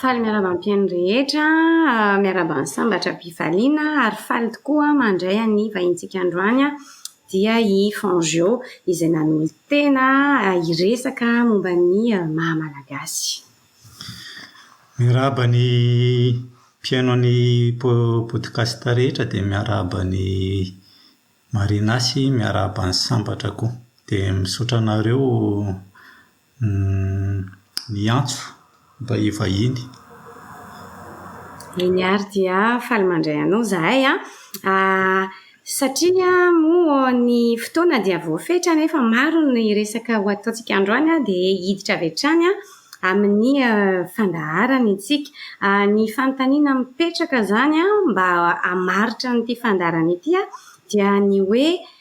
Faly miarahaba ny mpihaino rehetra, miarahaba ny sambatra am-pifaliana ary faly tokoa mandray an'ny vahintsika androany aho dia i Fangeo izay nanolo-tena hiresaka momba ny maha Malagasy. Miarahaba ny mpihaino an'ny podcast rehetra dia miarahaba an'i Marina sy miarahaba ny sambatra koa. Dia misaotra anareo. Humm miantso mba hivahiny. Eny ary dia faly mandray anao zahay an! Satria moa ny fotoana dia voafetra nefa maro ny resaka ho ataontsika androany dia hiditra avy hatrany amin'ny fandaharana isika. Ny fanontaniana mipetraka izany mba hamaritra an'ity fandaharana ity dia ny hoe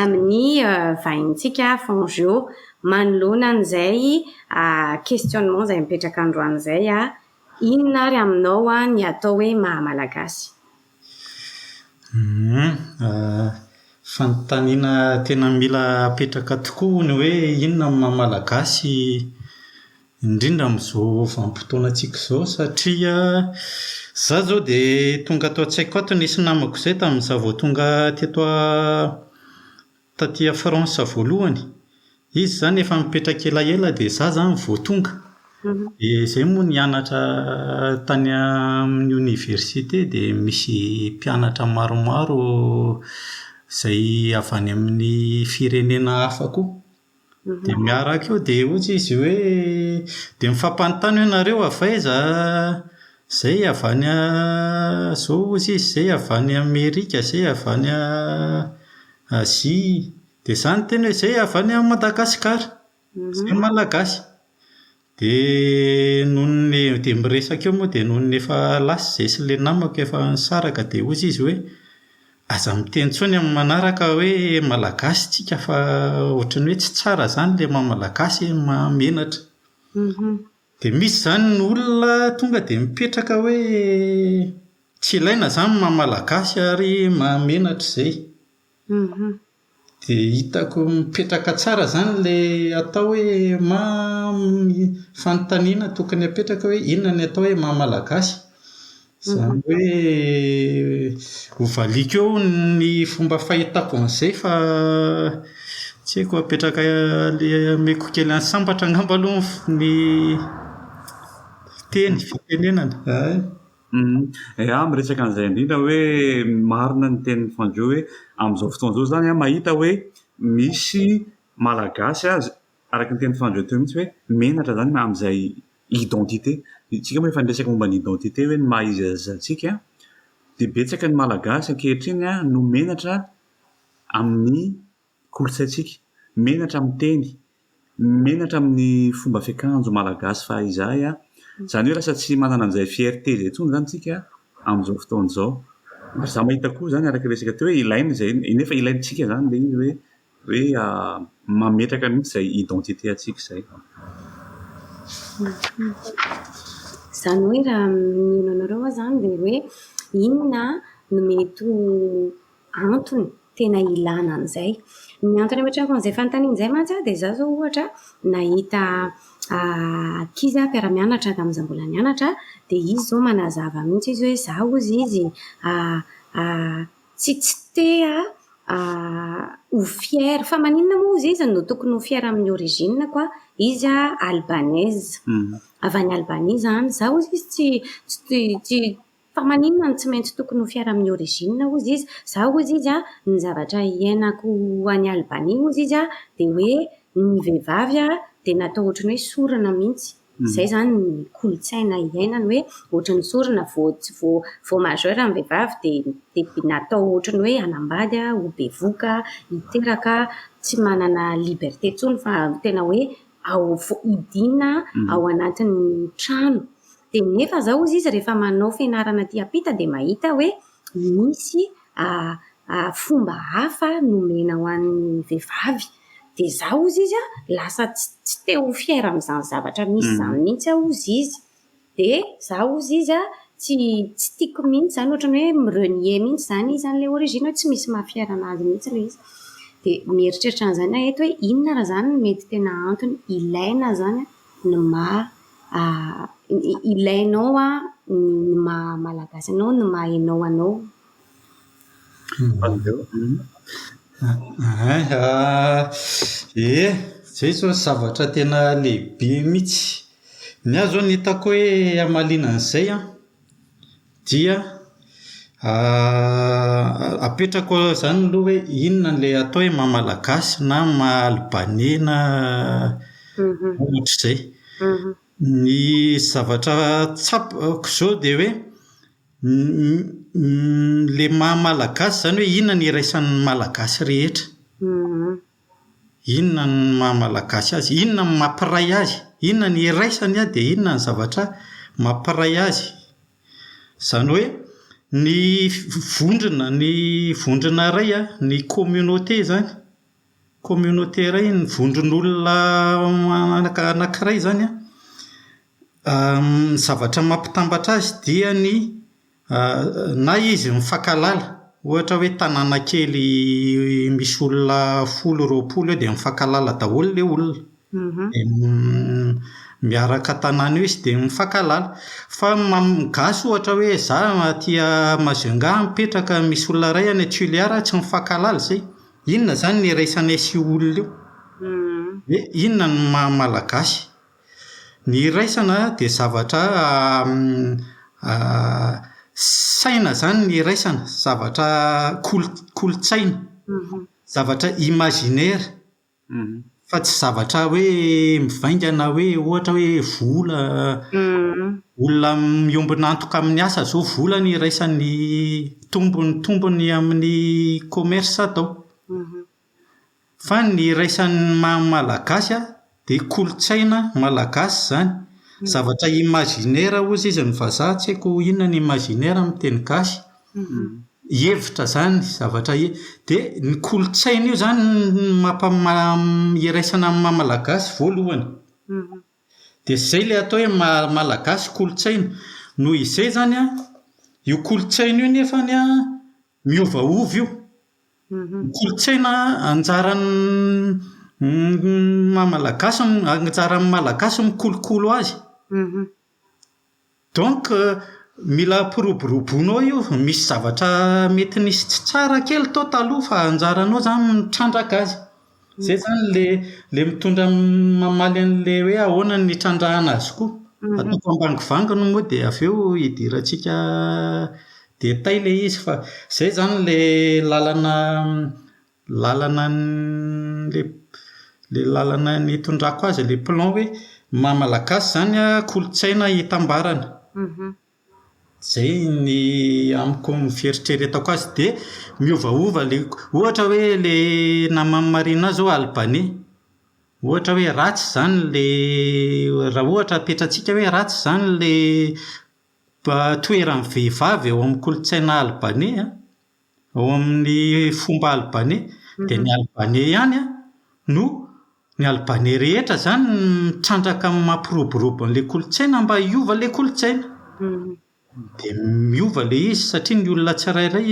amin'ny vahintsika Fangio manoloana an'izay questionnement izay mipetraka androany izay, inona ary aminao ny atao hoe maha Malagasy? Humm, fanontaniana tena mila apetraka tokoa hono hoe inona ny maha Malagasy? Indrindra amin'izao vanim-potoanantsika izao satria izaho izao dia tonga ato an-tsaiko ato nisy namako izay tamin'izaho vao tonga teto taty France voalohany. Izy izany efa nipetraka elaela dia izaho izany vao tonga. Dia izay moa nianatra tany amin'ny oniversite dia misy mpianatra maromaro izay avy any amin'ny firenena hafa koa. Dia miaraka eo dia hoy izy hoe, dia mifampanontany hoe nareo avy aiza? Izay avy any izao hoy izy, izay avy any Amerika, izay avy any Azia, dia izaho niteny hoe izay avy any Madagasikara, izahay Malagasy Dia nony dia miresaka eo moa dia nony efa lasa izahay sy ilay namako efa nisaraka dia hoy izy hoe, aza miteny intsony amin'ny manaraka hoe malagasy tsika fa ohatran'ny hoe tsy tsara izany ilay maha malagasy e, maha menatra. Dia misy izany ny olona tonga dia mipetraka hoe tsy ilaina izany ny maha malagasy ary maha menatra izay. Dia hitako mipetraka tsara izany ilay atao hoe fanontaniana tokony hapetraka hoe inona no atao hoe maha malagasy? Izany hoe ho valiako eo ny fomba fahitako an'izay fa tsy haiko apetraka ilay omeko kely an'i sambatra angamba aloha ny fiteny, fitenenana, hay. Ea miresaka an'izay indrindra hoe marina ny tenin'i Fanjo hoe amin'izao fotoana izao izany an mahita hoe misy malagasy aza araka ny tenin'i Fanjo teo mihitsy hoe menatra izany amin'izay identité isika moa efa niresaka momba ny identité hoe ny maha iza iza antsika an dia betsaka ny malagasy ankehitriny an no menatra amin'ny kolontsaintsika, menatra amin'ny teny, menatra amin'ny fomba fiakanjo malagasy fa izahay a, izany hoe lasa tsy manana an'izay fierté izay intsony izany isika amin'izao fotoana izao. Ary za mahita koa izany araka ny resaka teo hoe ilaina izay nefa ilaintsika izany ilay izy hoe hoe mametraka mihitsy izay identité antsika izay. Izany hoe raha mino anareo aho izany dia hoe inona no mety ho antony tena ilana an'izay. Ny antony ametrahan'izay fanontaniana izay mantsy aho dia izaho izao ohatra nahita ankizy aho mpiara-mianatra tamin'izaho mbola nianatra aho, dia izy izao manazava mihitsy izy hoe izaho hozy izy tsy tsy te-ha ho fière, fa maninona moa hozy izy no tokony ho fière amin'ny origine-ko aho, izy albanaise, avy any Albanie izaho, izaho hozy izy tsy tsy Fa maninona no tsy maintsy tokony ho fiara amin'ny origine hozy izy? Za hozy izy a, ny zavatra iainako any Albanie hozy izy a, dia hoe ny vehivavy a dia natao ohatry ny hoe sorona mihitsy. Izay izany ny kolontsaina iainany hoe ohatry ny sorona, vao tsy vao vao majeur ny vehivavy dia dia natao ohatry ny hoe hanambady a, ho bevoka a, hiteraka a, tsy manana liberté intsony fa tena hoe ao foidina ao anatin'ny trano dia nefa izao hozy izy rehefa manao fianarana aty ampita dia mahita hoe misy fomba hafa nomena ho an'ny vehivavy dia izaho hozy izy an lasa tsy te ho fier amin'izany zavatra misy izany mihitsy aho hozy izy Dia za hozy izy a, tsy tsy tiako mihitsy izany, ohatran'ny hoe mi-renier mihitsy izany izy an'ilay origine hoe tsy misy maha-fier an'azy mihitsy ilay izy. Dia mieritreritra an'izany aho eto hoe inona raha izany no mety tena antony ilaina izany an, ny maha ilainao an ny maha-malagasy anao, ny maha-ianao anao. Ie, izay izao zavatra tena lehibe mihitsy. Ny ahy izao ny hitako hoe hamaliana an'izay an, dia apetrako izany aloha hoe inona ilay atao hoe maha malagasy na maha albaney na ohatr'izay. Ny zavatra tsapako izao dia hoe Ilay maha malagasy izany hoe inona no iraisan'ny malagasy rehetra? Inona no maha malagasy azy? Inona no mampiray azy? Inona no iraisany an, dia inona no zavatra mampiray azy? Izany hoe ny vondrona, ny vondrona iray an, ny communauté izany, communauté iray, ny vondron'olona anankiray izany an, Ny zavatra mampitambatra azy dia ny na izy mifankahalala, ohatra hoe tanàna kely misy olona folo roapolo eo dia mifankahalala daholo ilay olona, dia miaraka tanàna eo izy dia mifankahalala. Fa ny amin'ny gasy ohatra hoe izaho aty Majunga mipetraka, misy olona iray any Toliara tsy mifankahalala izay, inona izany no iraisanay sy io olona io? Hoe inona no maha-malagasy? Ny iraisana dia zavatra saina izany ny iraisana, zavatra kolo- kolontsaina, zavatra imaginaire, fa tsy zavatra hoe mivaingana hoe ohatra hoe vola, olona miombona antoka amin'ny asa izao vola no iraisan'ny tombony tombony amin'ny commerce atao. Fa ny iraisan'ny maha malagasy an, dia kolontsaina malagasy izany. Zavatra imaginaire hoy izy ny vazaha, tsy haiko inona ny imaginaire amin'ny teny gasy. Hevitra izany, zavatra he-. Dia ny kolontsaina io izany no mampa- iraisana amin'ny maha malagasy voalohany. Dia izay ilay atao hoe maha malagasy kolontsaina. Noho izay izany an, io kolontsaina io nefany an, Miovaova io. Ny kolontsaina anjaran'ny maha malagasy, anjaran'ny malagasy mikolokolo azy. Donc mila ampiroboroboinao io, misy zavatra mety nisy tsy tsara kely tao taloha fa anjaranao izany ny mitrandraka azy. Izay izany ilay ilay mitondra mamaly an'ilay hoe ahoana ny itrandrahana azy koa. Ataoko ambangivangy no moa dia avy eo idirantsika détail ilay izy fa izay izany ilay lalana lalana ilay ilay lalana nitondrako azy ilay plan hoe maha malagasy izany an, kolontsaina itambarana. Izay ny amiko ny fieritreretako azy dia miovaova ilay, ohatra hoe ilay naman'i Marina izao Albania, ohatra hoe ratsy izany ilay, raha ohatra apetratsika hoe ratsy izany ilay toeran'ny vehivavy eo amin'ny kolotsaina Albania an, Ao amin' ny fomba albaney dia ny albaney ihany no, ny albaney rehetra izany no mitrandraka amin'ny maha mpiroborobo an'ilay kolontsaina mba hiova ilay kolontsaina. Dia miova ilay izy satria ny olona tsirairay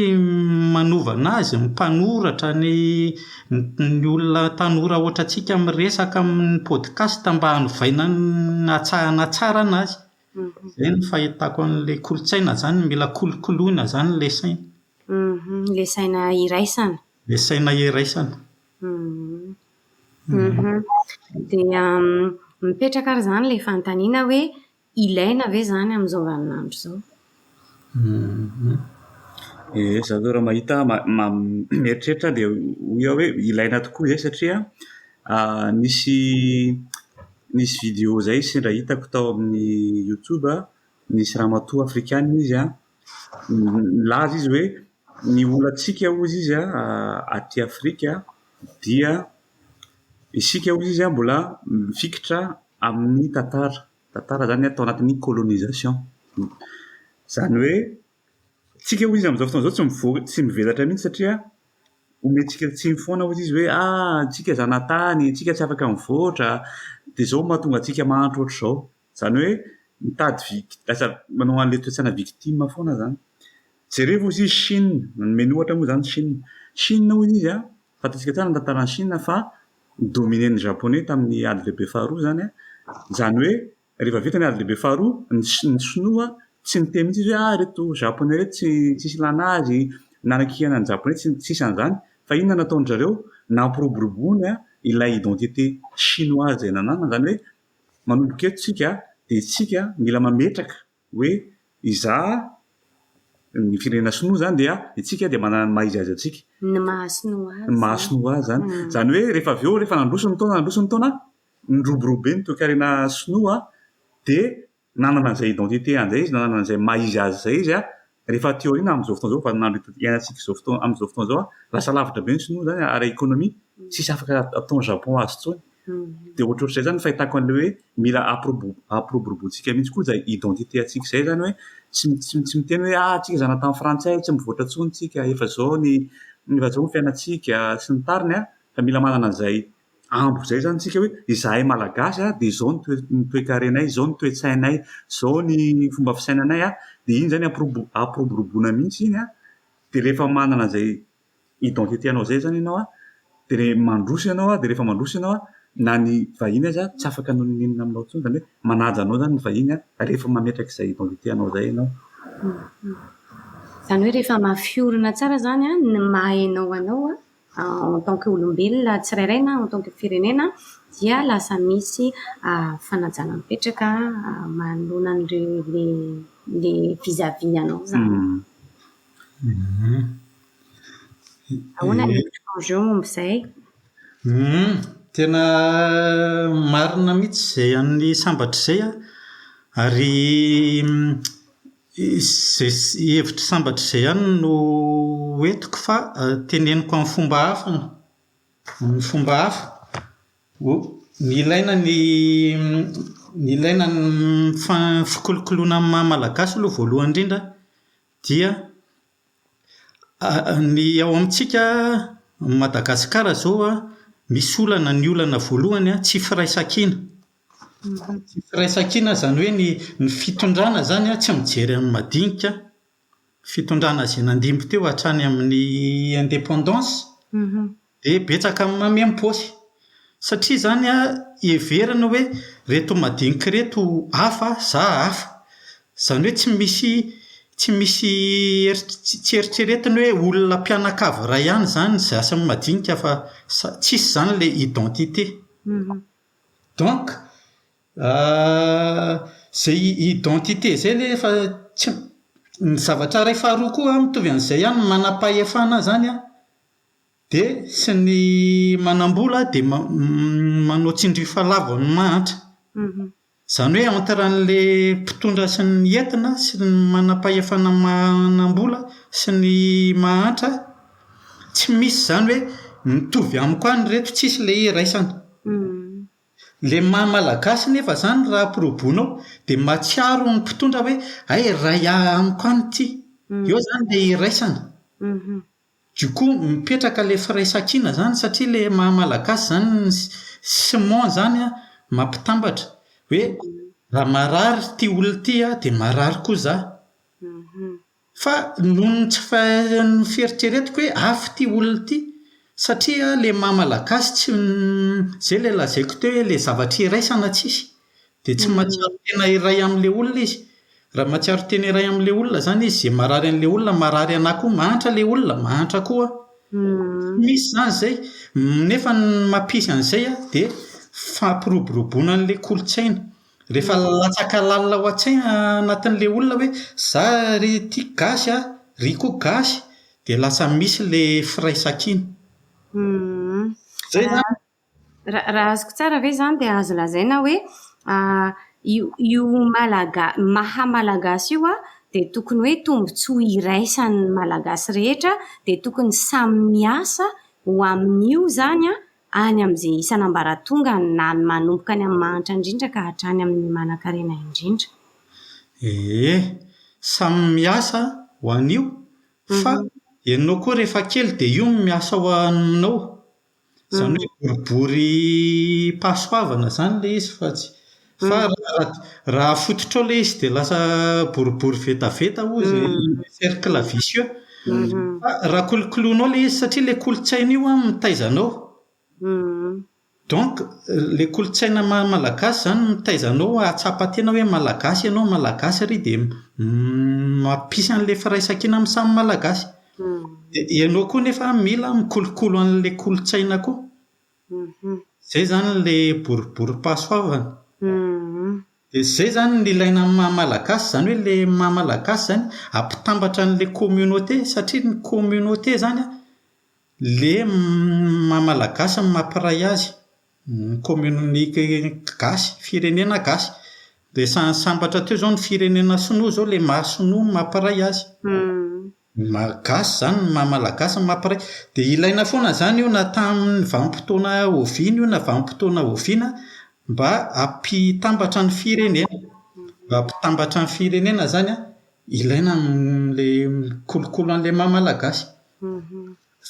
manova ny azy, ny mpanoratra, ny ny olona tanora hoatrantsika miresaka amin'ny podcast mba hanovaina ny hatsahana tsara ny azy. Izay no fahitako an'ilay kolontsaina izany, mila kolokoloina izany ilay saina. Ilay saina iraisana. Ilay saina iraisana. Dia mipetraka ary izany ilay fanontaniana hoe, ilaina ve izany amin'izao vaninandro izao? Ie, za zao raha mahita mieritreritra aho dia hoy aho hoe ilaina tokoa ve satria nisy nisy video izay sendra hitako tao amin'ny youtube an, nisy ramatoa afrikana izy an, nilaza izy hoe ny olantsika hozy izy an aty afrika dia isika hozy izy an mbola mifikitra amin'ny tantara. Tantara zany atao anatin'ny colonisation. Zany hoe tsika hoy izy amizao fotoana zao tsy mivory tsy mivelatra mintsy satria omentsika tsiny foana hoy izy hoe a tsika zanatany tsika tsy afaka mivoatra de zao mahatonga antsika mahantra otrzao zany hoe mitady vik lasa manao anle toetsana victime foana zany jerevo ozy izy chine nomeny ohatra moa zany chine chine hoy izy a fantatsika tsara ny tantaran'i chine fa dominer-n'ny Japoney tamin'ny Ady Lehibe Faharoa izany an! Izany hoe, rehefa vita ny Ady Lehibe Faharoa, ny Si-, ny Sinoa tsy niteny mihitsy izy hoe ah ireto Japoney ireto tsy, tsisy ilàna azy, nanakihana ny Japoney, tsy, tsisy an'izany. Fa inona no nataon-dry zareo? Nampiroborobo ny an, ilay identité Chinoise izay nananany, izany hoe, manomboka eto tsika dia isika mila mametraka hoe izaho ny firenena sinoa izany dia itsika dia manana ny maha izy azy antsika. Ny maha sinoa azy. Ny maha sinoa azy izany. Izany hoe rehefa avy eo, rehefa nandroso ny taona, nandroso ny taona, niroborobo be ny toekarena sinoa dia nanana an'izay identité an'izay izy, nanana an'izay maha izy azy izay izy Rehefa aty aoriana amin'izao fotoana izao, vaninandro ito iainantsika izao fotoana, amin'izao fotoana izao, lasa lavitra be ny Sinoa izany ara ekonomia, tsisy afaka ataon'i Japon azy intsony. Dia ohatrohatr'izay izany ny fahitako an'ilay hoe mila ampiroboro, ampiroboroboantsika mihitsy koa izay identité antsika izay izany hoe tsy, tsy, tsy miteny hoe ah tsika zanaka tamin'ny frantsay tsy mivoatra intsony tsika, efa izao ny, efa izao ny fiainantsika sy ny tariny an, fa mila manana an'izay ambo izay izany isika hoe izahay malagasy a dia izao ny toe- ny toekarenay, izao ny toe-tsainay, izao ny fomba fisainanay a, dia iny izany ampirobo- ampiroboroboana mihitsy iny a, dia rehefa manana izay identité anao izay izany ianao a, dia re- mandroso ianao a, dia rehefa mandroso ianao a, na ny vahiny aza tsy afaka hanao n'inon'inona aminao intsony, izany hoe manaja anao izany ny vahiny a, rehefa mametraka izay identité anao izay ianao. Izany hoe rehefa mafy orina tsara izany a, ny maha-ianao anao a, en tant que olombelona tsirairay na en tant que firenena dia lasa misy fanajana mipetraka manoloana an'ireo le vis à vis anao zany. Ahoana ny enjeu momba izay? Tena marina mihitsy izay an'ny sambatra izay an, ary Izay hevitry sambatra izay ihany no ho entiko fa teneniko amin'ny fomba hafa an, amin'ny fomba hafa. Ny ilaina ny ny ilaina ny mifa- fikolokoloana amin'ny maha malagasy aloha voalohany indrindra an, dia ny ao amintsika Madagasikara izao an, misy olana, ny olana voalohany an, tsy firaisankina. Tsy firaisankina izany hoe ny ny fitondrana izany an, tsy mijery amin'ny madinika. Fitondrana izay nandimby teo hatrany amin'ny indépendance dia betsaka amin'ny mamem-paosy. Satria izany an, heverina hoe ireto madinika ireto hafa, izaho hafa. Izany hoe tsy misy tsy misy eritr- tsy eritreretina hoe olona mpianakavy iray ihany izany ny zasy amin'ny madinika fa sa- tsisy izany ilay identité. Donc izay identité izay ilay efa tsy m, ny zavatra iray faharoa koa mitovy amin'izay ihany ny manam-pahefana izany an, dia sy ny manam-bola dia manao tsindrio fahalavoan'ny mahantra. Izany hoe entre an'ilay mpitondra sy ny entina sy ny manam-pahefana manam-bola sy ny mahantra, tsy misy izany hoe mitovy amiko any ireto, tsisy ilay iraisana. Ilay maha malagasy nefa izany raha ampirobonao dia mahatsiaro ny mpitondra hoe hay iray amiko any ity, eo izany ilay iraisana. Du coup mipetraka ilay firaisankina izany satria ilay maha malagasy izany ny ciment izany an, mampitambatra hoe raha marary ity olona ity an dia marary koa izaho. Fa noho ny tsy fahaizan'ny fieritreretako hoe hafa ity olona ity satria ilay maha malagasy tsy izay ilay lazaiko teo hoe ilay zavatra iraisana tsisy. Dia tsy mahatsiaro tena iray amin'ilay olona izy. Raha mahatsiaro tena iray amin'ilay olona izany izy, izay marary an'ilay olona marary anà koa. Mahantra ilay olona, mahantra koa aho. Tsy misy izany izay. Nefa ny mampisy an'izay an, dia fampiroboroboana an'ilay kolontsaina. Rehefa latsaka lalina ao an-tsaina anatin'ilay olona hoe izaho ry ity gasy an, iry koa gasy, dia lasa misy ilay firaisankina. Izay izany. Raha azoko tsara ve izany dia azo lazaina hoe io io malaga- maha malagasy io an, dia tokony hoe tombontsoa iraisan'ny malagasy rehetra, dia tokony samy miasa ho amin'io izany an, any amin'izay isan'ambaratongany, na ny manomboka any amin'ny mahantra indrindra ka hatrany amin'ny manankarena indrindra. Ee, samy miasa ho an'io, fa ianao koa rehefa kely dia io no miasa ho aminao. Izany hoe boribory pahasoavana izany ilay izy fa tsy, fa raha raha afototrao ilay izy dia lasa boribory vetaveta hoy izy, cercle vicieux. Fa raha kolokoloinao ilay izy, satria ilay kolontsaina io an mitaiza anao. Donc, ilay kolontsaina maha malagasy izany no mitaiza anao hahatsapa tena hoe malagasy ianao, malagasy ary dia mampisy an'ilay firaisankina amin'ny samy malagasy. dia ianao koa nefa mila mikolokolo an'ilay kolontsaina koa, izay izany ilay boriborim-pahasoavana, dia izay izany no ilaina amin'ny maha malagasy, izany hoe ilay maha malagasy izany ampitambatra an'ilay communauté satria ny communauté izany an, ilay maha malagasy no mampiray azy. Ny kaominin'ny gasy, firenena gasy. Resahan'ny sambatra teo izao ny firenena sinoa izao, ilay maha sinoa no maha mpiray azy. Ny maha gasy izany, ny maha malagasy no maha mpiray. Dia ilaina foana izany io na tamin'ny vanim-potoana oviana io na vanim-potoana oviana mba hampitambatra ny firenena. Mba hampitambatra ny firenena izany an, ilaina ilay mikolokolo an'ilay maha malagasy.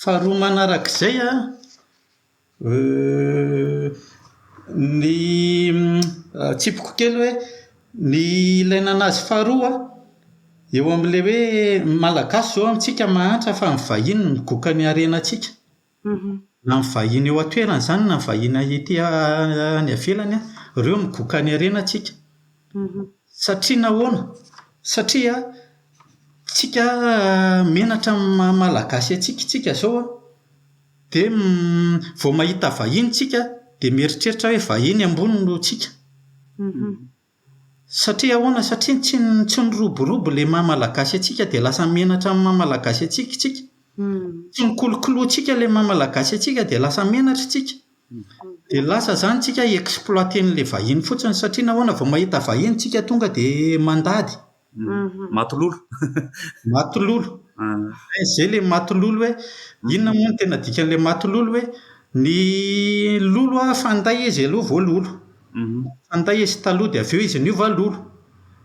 Faharoa manarak'izay an, Ny tsipiko kely hoe ny ilay nanazy faharoa an, eo amin'ilay hoe ny Malagasy izao amintsika mahantra fa ny vahiny no migoka ny harenantsika. Na ny vahiny eo an-toerana izany na ny vahiny ety any ivelany an, ireo no migoka ny harenantsika. Satria nahoana? Satria tsika menatra amin'ny maha-malagasy antsika isika izao an. Dia vao mahita vahiny tsika dia mieritreritra hoe vahiny ambony no tsika. Satria ahoana? Satria tsy tsy niroborobo ilay maha malagasy antsika dia lasa menatra amin'ny maha malagasy antsika tsika. Tsy nikolokoloantsika ilay maha malagasy antsika dia lasa menatra tsika. Dia lasa izany tsika exploiter-n'ilay vahiny fotsiny satria nahoana? Vao mahita vahiny tsika tonga dia mandady. Mhm. Matololo. Matololo. Ah. Eh, zay le matololo hoe inona moa ny tena dikan'ilay matololo hoe ny lolo a fanday izy aloha vao lolo. Mhm. Fanday izy taloha dia avy eo izy niova lolo.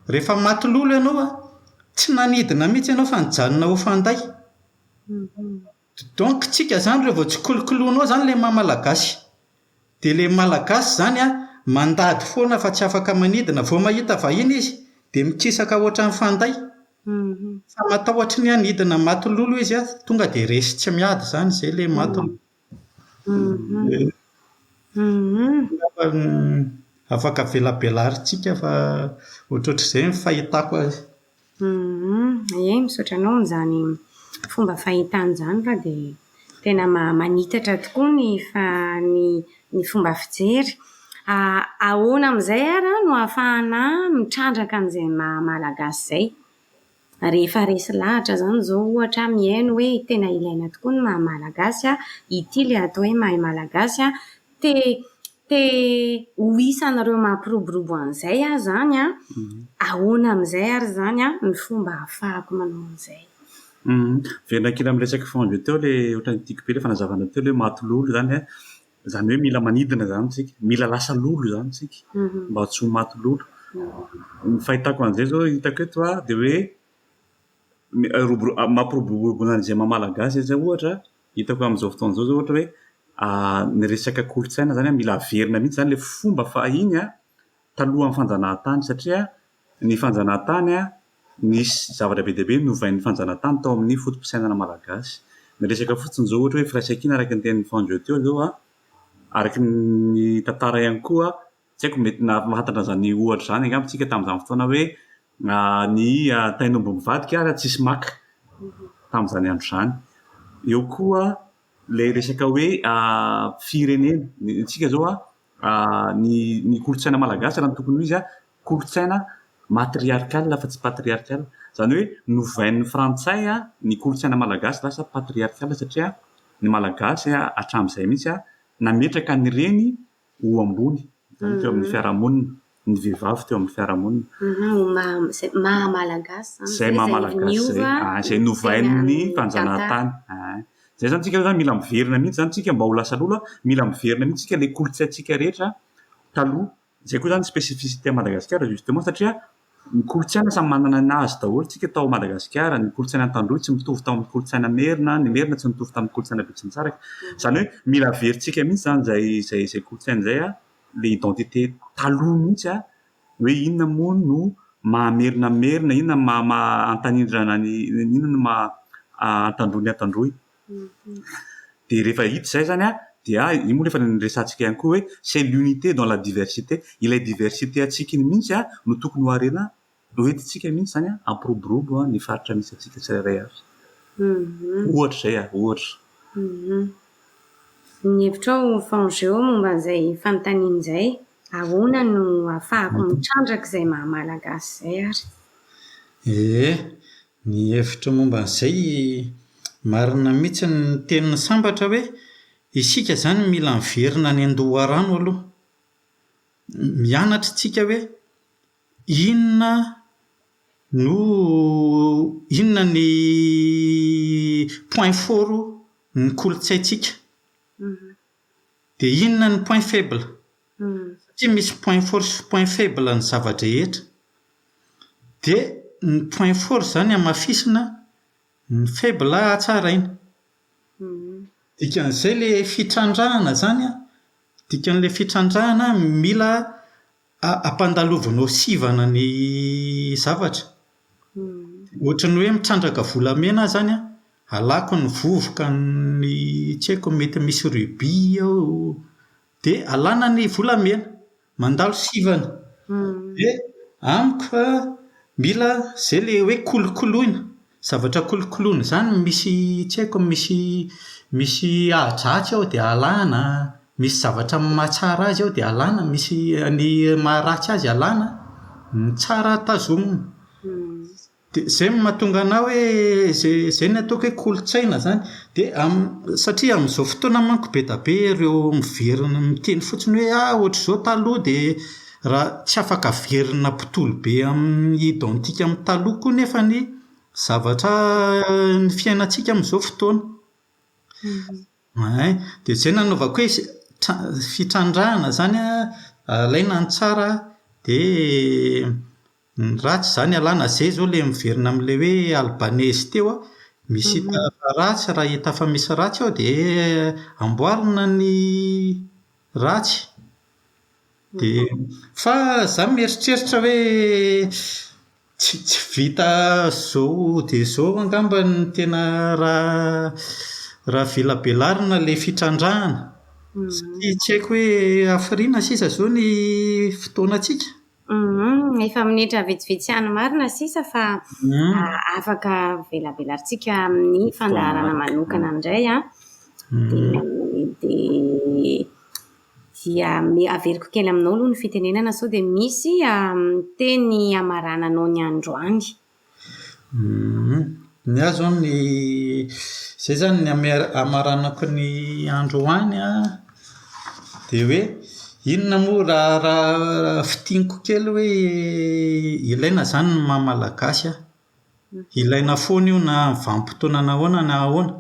Rehefa matololo ianao a, tsy nanidina mihitsy ianao fa nijanona ho fanday. Mhm. Dis donc tsika zany reo vao tsikolokoloinao zany le maha malagasy de le malagasy zany an mandady foana fa tsy afaka manidina vao mahita vahiny izy de mikisaka ohatran'ny fanday fa matahotry ny hanidina maty lolo izy an tonga de resy tsy miady zany zay le maty lolo angamba afaka avelabelaritsika fa ohatrohatrizay ny fahitako azy Humm ee misaotra anao amin'izany fomba fahitana izany fa dia tena ma- manitatra tokoa ny fa- ny ny fomba fijery. A- ahoana amin'izay ary an no ahafahana mitrandraka an'izay maha malagasy izay? Rehefa resy lahatra izany izao ohatra aho mihaino hoe tena ilaina tokoa ny maha malagasy an, ity ilay atao hoe mahay malagasy an, te te ho isan'ireo mampiroborobo an'izay aho izany an, ahoana amin'izay ary izany ny fomba ahafahako manao an'izay. Velona kely amin'ny resaka feo avy teo ilay ohatran'ny tiako be ilay fanazavanao teo ilay hoe maty lolo izany an, izany hoe mila manidina izany isika, mila lasa lolo izany isika mba tsy ho maty lolo. Ny fahitako an'izay izao hitako eto an, dia hoe ny roborobo mampiroborobo an'izay maha malagasy an'izay ohatra, Hitako amin'izao fotoana izao zao ohatra hoe ny resaka kolontsaina zany mila averina mihitsy zany le fomba fahiny a talohan'ny fanjanahantany satria ny fanjanahantany a nisy zavatra be dia be novain'ny fanjanahantany tao amin'ny foto-pisainana malagasy. Ny resaka fotsiny zao ohatra hoe firaisankina araka ny tenin'i Fanjo teo zao a, araka ny tantara ihany koa Tsy haiko, mety nahafantatra an'izany ohatra izany angamba isika tamin'izany fotoana hoe ny tain'omby mivadika ary tsisy maka tamin'izany andro izany. Eo koa ilay resaka hoe firenena. Ny antsika izao, ny ny kolontsaina malagasy raha ny tokony ho izy, kolontsaina matriarcal fa tsy patriarcal. Izany hoe novain'ny frantsay ny kolontsaina malagasy lasa patriarcal satria ny malagasy hatramin'izay mihitsy nametraka ny reny ho ambony izany teo amin'ny fiarahamonina, ny vehivavy teo amin'ny fiarahamonina. Izay maha Malagasy izany. Izay maha Malagasy izay. Izay novain'ny mpanjanahantany. Izay izany isika izany mila miverina mihitsy izany isika mba ho lasa loha, mila miverina mihitsy isika ilay kolontsaintsika rehetra taloha. Izay koa izany ny spécificité an'i Madagasikara justement satria. Ny kolontsaina samy manana ny azy daholo tsika tao Madagasikara, ny kolontsaina tandroy tsy mitovy tamin'ny kolontsaina merina, ny merina tsy mitovy tamin'ny kolontsaina betsimisaraka, izany hoe mila averintsika mihintsy izany izay izay izay kolontsaina izay an, le identité taloha mihintsy an, hoe inona moa no maha merina ny merina, inona no maha maha antanindrina ny inona no maha antandroy ny antandroy. Dia rehefa hita izay izany an, dia io moa efa niresahantsika ihany koa hoe c'est l'unité dans la diversité. Ilay diversité antsika iny mihitsy no tokony ho harena, ho entintsika mihitsy izany hampiroborobo ny faritra misy antsika tsirairay avy. Ohatra izay an, ohatra. Ny hevitrao Fangeo momba an'izay fanontaniana izay? Ahoana no ahafahako mitrandraka izay maha-malagasy izay ary? Ee, Ny hevitro momba an'izay, marina mihitsy ny tenin'i Sambatra hoe isika izany mila miverina any an-doharano aloha. Mianatra isika hoe inona no inona ny point fort ny kolontsaintsika. Dia inona ny point faible? Satria misy point fort sy point faible ny zava-drehetra. Dia ny point fort izany hamafisina ny faible hatsaraina. Dikan'izay ilay fitrandrahana izany an, dikan'ilay fitrandrahana mila A, ampandalovanao sivana ny zavatra. Ohatran'ny hoe mitrandraka volamena aho izany an, alako ny vovoka ny tsy haiko mety misy ruby ao, dia alana ny volamena. Mandalo sivana. Dia amiko an, mila izay ilay hoe kolokoloina. Zavatra kolokoloina izany misy tsy haiko an, misy misy ahidratsy ao dia alana, misy zavatra mahatsara azy ao dia alana, misy ny maharatsy azy alana, ny tsara tazomina. Dia izay no mahatonga anà hoe izay izay no ataoko hoe kolontsaina izany. Dia amin'ny, satria amin'izao fotoana manko be dia be ireo miverina miteny fotsiny hoe ah ohatr'izao taloha dia Raha tsy afaka averina mpitoly be amin'ny identique amin'ny taloha koa nefa ny zavatra ny fiainantsika amin'izao fotoana Hay, dia izay no nanaovako hoe tra- fitrandrahana izany an, alaina ny tsara dia Ny ratsy izany ialahy na zay izao ilay miverina amin'ilay hoe Albanese teo an, misy hita fa ratsy raha hita fa misy ratsy ao dia amboarina ny ratsy dia fa izaho mieritreritra hoe tsy tsy vita izao dia izao angamba ny tena raha raha velabelarina ilay fitrandrahana satria tsy haiko hoe hafiriana sisa izao ny fotoanantsika Humm efa minitra vitsivitsy ihany marina sisa fa afaka avelabelantsika amin'ny fandaharana manokana indray an, dia dia averiko kely aminao aloha ny fitenenana sao dia misy teny hamarananao ny androany. Ny ahy izao ny izay izany ny hame- hamaranako ny andro ho any an, dia hoe inona moa raha raha fintiniko kely hoe ilaina izany ny maha malagasy ahy? Ilaina foana io na amin'ny vanim-potoana ahoana na ahoana.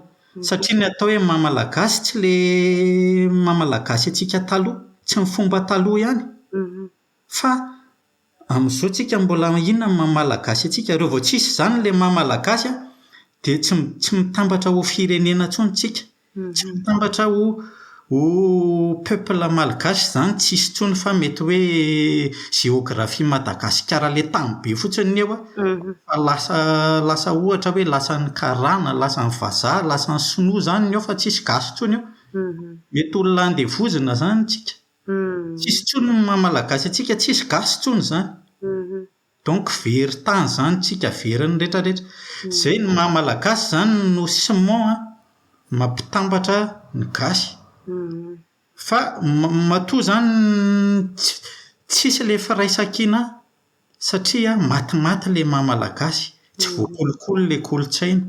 Satria ny atao hoe maha malagasy tsy ilay maha malagasy antsika taloha, tsy ny fomba taloha ihany, fa Amzao tsika mbola inona ny maha malagasy antsika, reo vao tsisy izany le maha malagasy an, de tsy tsy mitambatra ho firenena tsony tsika, tsy mitambatra ho ho peuple malgache zany tsisy tsony fa mety hoe géographie Madagasikara le tany be fotsiny ny eo fa lasa lasa ohatra hoe lasan'ny karana, lasan'ny vazaha, lasan'ny sinoa zany ny eo fa tsisy gasy tsony eo, mety olona andevozina zany tsika. Tsisy intsony ny maha malagasy antsika tsisy gasy intsony izany donc very tany izany tsika very ny rehetra rehetra izay ny maha malagasy izany no ciment an mampitambatra ny gasy fa matoa izany tsisy ilay firaisankina Satria matimaty le maha malagasy, tsy voakolokolo le kolotsaina,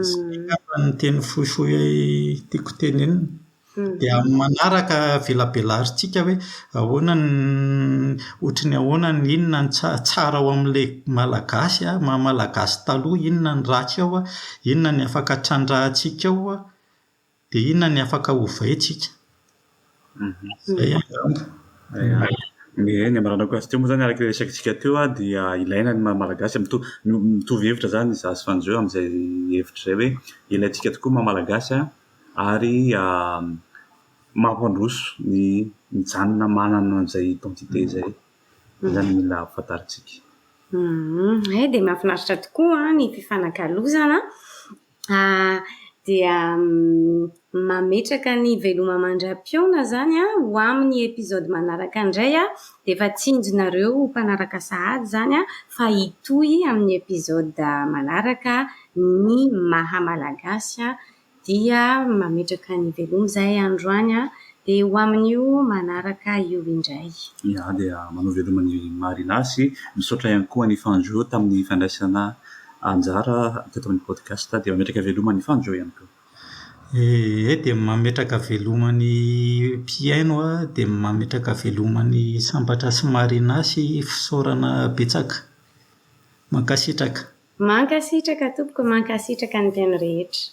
zay angamba ny teny fohifohy tiako tenenina. Dia amin'ny manaraka velabelarintsika hoe ahoana ny ohatra ny ahoana ny inona ny tsara tsara ao amin'ilay malagasy maha malagasy taloha, inona ny ratsy ao, inona ny afaka trandrahantsika ao. Dia inona ny afaka hovaintsika? Izay angamba. Eny, ny hamaranao gasy teo moa izany araka ilay resakantsika teo dia ilaina ny maha malagasy. Mitovy hevitra izany izaho sy Fanjo amin'izay hevitra izay hoe ilaintsika tokoa ny maha malagasy ary mampandroso ny mijanona manana an'izay identité izay. Izay izany no mila fantarintsika. Hay dia mahafinaritra tokoa ny fifanakalozana A, dia mametraka ny veloma mandra-pihaona izany aho ho amin'ny episode manaraka indray a! dia efa tsinjonareo mpanaraka sahady izany a! fa hitohy amin'ny episode manaraka ny maha malagasy a! dia mametraka ny veloma izahay androany a! dia ho amin'io manaraka io indray. Iah dia manao veloma an'i Marina sy misaotra ihany koa an'i Fanjo tamin'ny fandraisana anjara teto amin'ny podcast dia mametraka veloma ny fanjo ihany koa. Ee, dia mametraka veloma ny mpihaino an, dia mametraka veloma ny Sambatra sy Marina sy fisaorana betsaka. Mankasitraka. Mankasitraka tompoko, mankasitraka ny mpihaino rehetra.